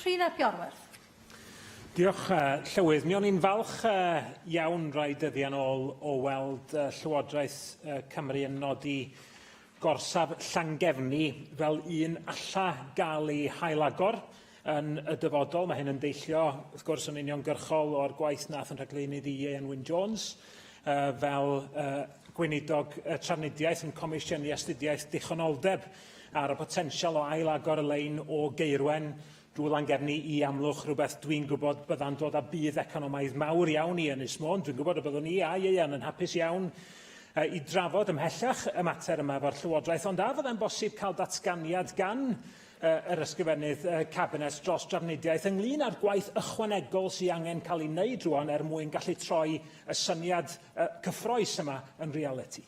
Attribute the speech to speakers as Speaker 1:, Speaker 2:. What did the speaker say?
Speaker 1: Rhun ap Iorwerth. Diolch,
Speaker 2: uh, Llywydd. Mi o'n i'n falch uh, iawn rai dyddiau'n ôl o weld uh, Llywodraeth uh, Cymru yn nodi gorsaf Llangefni fel un alla gael ei hailagor yn y dyfodol. Mae hyn yn deillio, wrth gwrs, yn uniongyrchol o'r gwaith nath yn rhagleunydd i Ieuan Wyn Jones uh, fel uh, gweinidog uh, trafnidiaeth yn comisiynu astudiaeth dichonoldeb Ar y potensial o ail-agor y lein o Gaerwen drwy Langefni i Amlwch, rhywbeth dwi'n gwybod bydda'n dod â budd economaidd mawr iawn i Ynys Môn. Dwi'n gwybod y byddwn i a Ieuan yn hapus iawn uh, i drafod ymhellach y mater yma efo'r Llywodraeth, ond a fyddai'n bosib cael datganiad gan uh, yr ysgrifennydd uh, Cabinet dros drafnidiaeth ynglyn â'r gwaith ychwanegol sy'n angen cael ei wneud rwan er mwyn gallu troi y syniad uh, cyffroes yma yn realiti?